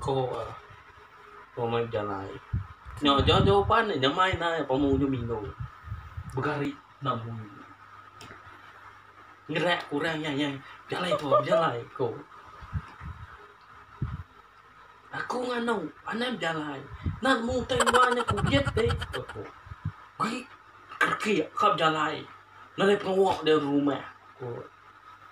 Ko pemain jalai. Nya nya nya uban nya main ai pemu nya mino. Begari enam bunyi. Ngerak orang nyai nyai. Jalai tu jalai ko. Aku nganu anam jalai. Nan mu tai luar nya ku biet deh. Ko. Gui. Kaki kap jalai. Nalai pengawa dia rumah. Ko.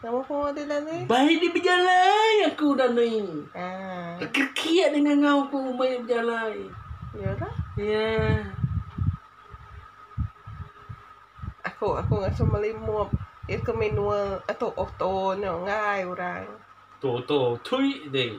Baik di bejalai aku udah ni. Kekiak di ngangau ku umai bejalai. Yeah. Aku aku ngasuh meli mop. Itu manual atau auto nyo ngai orang. Auto auto tui deh.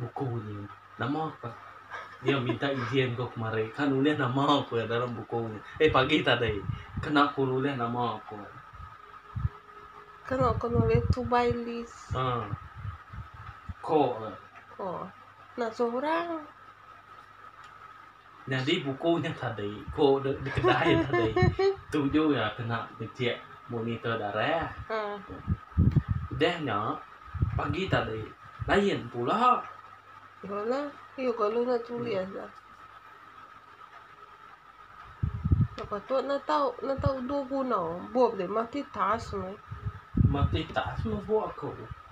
Buku nya. Nama ka iya minta ijin ku kemari ka nulih nama ku iya dalam buku nya. Eh pagi tadi. Kena ku nulih nama ku. Kena ku nulih to buy list. Ha. Ko. Ko. Nak seorang. Nyadi buku nya tadi ku dek di kedai tadi tuju iya kena bejek monitor darah. Udah nya pagi tadi lain pula. Ya lah, iyo kalu nak tulis lah. Nak patut nak tau, nak tau dua guna. Buat dia multitask meh. Multitask meh buat aku.